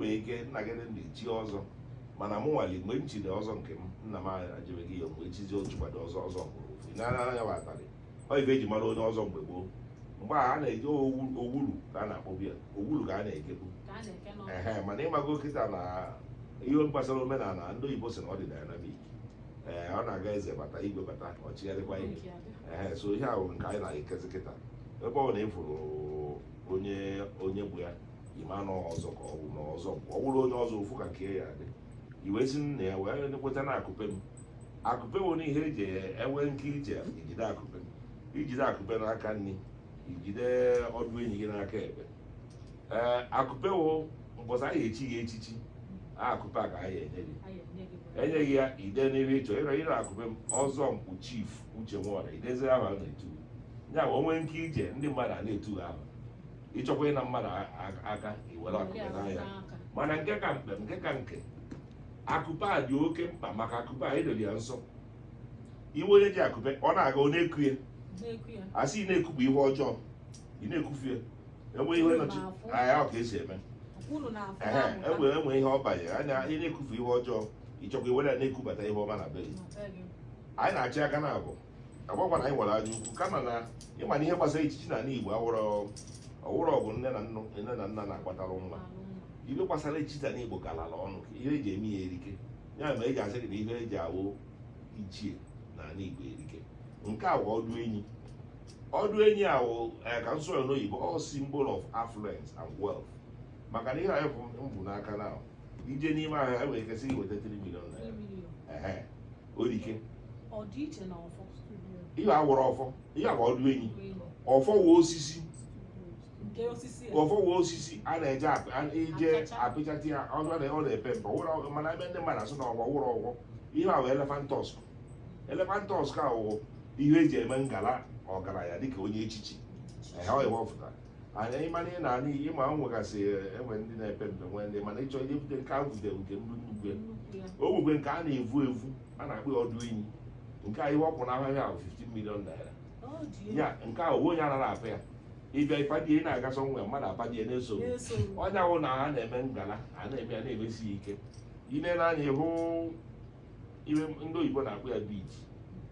nwere ike nna gị ndị chi ọzọ mana mụ nwale mgbe m chiri ọzọ nke m nna m echibeghị ya mgbe echizi o chikwado ọzọ ọzọ mkpu ofu n'anya ya atarị ọ ife eji mara onye ọzọ mgbe gboo mgbe a na-eji owulu ka a na-akpọbu ya owulu ka a na-ekebu ehe mana ịmago kịta na ihe gbasara omenala ndị oyibo sị na ọ dị dynamic ee ọ na-aga eze bata igwe bata ọ chịgharịkwa ihe ee so ihe ahụ nke anyị na-ekezi kịta ebe ọ na ị fụrụ onye onye bụ ya ịma na ọzọ ka ọ bụ na ọzọ ọ bụrụ onye ọzọ ị fụ ka nke ya dị i wee si na ya wee kweta na akụpe m akụpe nwere ihe eji enwe nke ije ijide akụpe ijide akụpe n'aka nri ijide ọdụ enyi gị n'aka ekpe ee akụpe wụ mbọsị anyị echi ya echichi akụpe a ka anyị enye gị enye gị ya i dee n'ebe ịchọ ịrọ ịrọ akụpe m ọzọ mkpu chief uche nwọra i dezie aha a na-etu ya o nwe nke ije ndị mmadụ a na-etu aha ịchọkwa ịna mmadụ a- a- aka iwere akụpe naa ya mana nke ka mkpa nke ka nke akụpe a dị oke mkpa maka akụpe a edoli ya nsọ ị hụ onye ji akụpe ọ na-aga ọ na-eku ya na-eku ya asị ị na-ekupụ ihe ọjọọ ị na-ekufu ya enwe ihe nọchi anya ọ ka esi eme unu na-afụ ehe amụta enwe enwe ihe ọ banyere anya ị na-ekufu ihe ọjọọ ịchọkwa iwere ya na-ekubata ihe ọma na be gị na be gị anyị na-achị aka na abụọ agbakwa na anyị nwere anya ukwu kama na ịma na ihe gbasara echichi na ala Igbo awụrọ ọwụrọ bụ nne na nna nne na nna na-agbatara nwa ihe gbasara echichi na Igbo galala ọnụ ka ihe eji eme ya erike ya mere eji asị gị na ihe eji awụ ichie na ala Igbo erike nke a wụ ọdụ enyi ọdụ enyi a wụ eh, ka m sụọ ya n'oyibo ọ wụ symbol of affluence and wealth maka na ihe anyị bu m bu n'aka na ije n'ime ahịa ha nwere ike sị iweta 3 million naira Ehe. o rike ihe a awụrọ ọfọ ihe a wụ ọdụ enyi ọfọ wụ osisi ọfọ wụ osisi a na-eje ije apịchata ya ọ na-epe mpe wụrụ mana ebe ndị mmadụ asị na ọfọ ọ wụrọ ọfọ ihe a wụ elephant tusk elephant tusk a wụ ihe eji eme ngala ọgaranya dịka onye echichi ehe ọ ya wepụtara anya ịmana ị na-ana iyi ma ọ nwegasị enwe ndị na-epe mpe nwee ndị mana ịchọ ihe bute nke a vute nke m bu nnukwu ya o nwekwe nke a na-evu evu a na-akpọ ya ọdụ enyi nke a ihe ọ kwụ n'ahịa ya bụ 15 million naira ya nke a ofu onye anaghị apa ya ịbịa ịpadi ị na-aga sọ nwe mmadụ apadi ya na-eso ọ nya wụ na a na-eme ngala a na-eme ya na-emesi ya ike ile n'anya ịhụ ihe ndị oyibo na-akpọ ya bead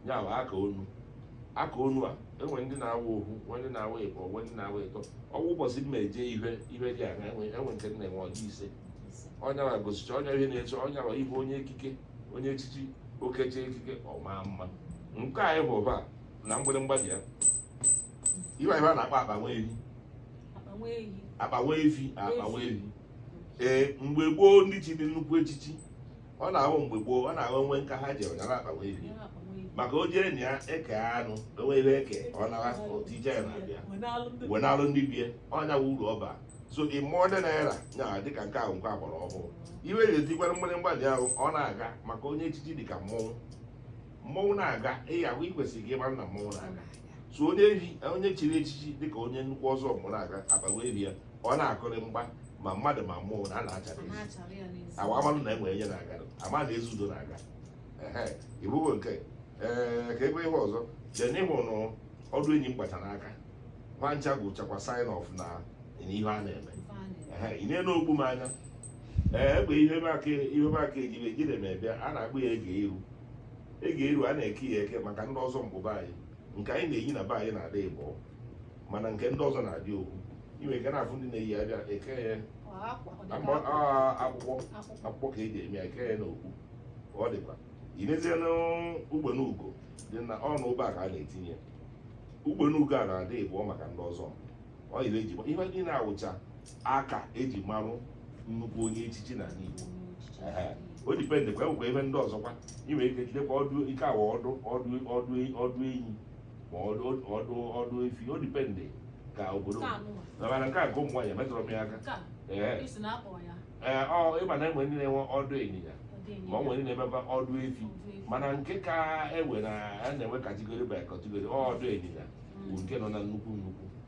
ya bụ aka onu aka onu a enwe ndị na-awa ohu nwe ndị na-awa ịbọ nwe ndị na-awa ịtọ ọ bụ ụbọchị m na-eje ihe ihe dị aṅa enwe enwe nke m na-enwe ọ dị ise ọ nya wa gosicha ọ nya ihe na-eche ọ nya wa ị hụ onye ekike onye echichi o keche ekike ọ maa mma nke a ịbụ ụba na mgbịrịmgba dị ya ihe ihe a na-akpọ akpa nwa ehi akpa nwa ehi akpa nwa efi akpa nwa efi ee mgbe gboo ndị chiri nnukwu echichi ọ na-awụ mgbe gboo ọ na-awụ nwa nka ha ji anyara akpa nwa efi maka o jee na ya eke anụ dowe ihe eke ọ nara o tije ya na bag wenalụ ndị be e ọ nya wụ uru ọ ba so e modernize nya dịka nke a wụ nke ọgbara ọhụụ ihe ga-etikwara mgbịrịmgba dị ahụ ọ na-aga maka onye echichi dịka mmọnwụ mmọnwụ na-aga ị ya-ahụ i kwesịrị ka ị mara na mmọnwụ na-aga so onye ehi onye chiri echichi dịka onye nnukwu ọzọ mụ na-aga akpa nwa ehi ya ọ na-akụrị mgba ma mmadụ ma mmụọ na a na-achara ezi na-achara ya n'ezi awa amanụ na enwe onye na-aga ama na Ezeudo na-aga ehe ịbụghị nke ee ka ebe ihe ọzọ jee n'ịhụ nụ ọdụ enyi m kpacha n'aka ha ncha bụchakwa sign of na n'ihe a na-eme ife a na-eme. ehe ị na-ene okpu m anya ee egbe ihe m aka ihe m aka ejibe jide m ebịa a na-akpọ ya ege iru ege iru a na-eke ya eke maka ndị ọzọ mgbụba anyị nke anyị na-eyi na be anyị na-adị ịbọ mana nke ndị ọzọ na-adị ohu i nwe ike na-afụ ndị na-eyi abịa eke ya akwụkwọ akwụkwọ ka eji eme ya eke ya n'okpu ọ dịkwa i nezie n'ugbene ugo dị na ọnụ ebe a ka a na-etinye ugbene ugo a na-adị ịbụọ maka ndị ọzọ ọ yiri eji ihe ndị na-awụcha aka eji marụ nnukwu onye echichi na n'Igbo o depend kwa enwekwa ebe ndị ọzọkwa inwe ike jidekwa ọdụ ike awa ọdụ ọdụ ọdụ ọdụ enyi ma ọdụ ọdụ ọdụ efi o depend kwa obodo mana nke a nke ụmụ nwaanyị emetụrụ m ya aka ee ee ọ ị ma na enwe ndị na-enwe ọdụ ịnyịnya ma ọ nwere ndị na-emebe ọdụ efi mana nke ka enwe na a na-enwe category by category ọdụ ịnyịnya bụ nke nọ na nnukwu nnukwu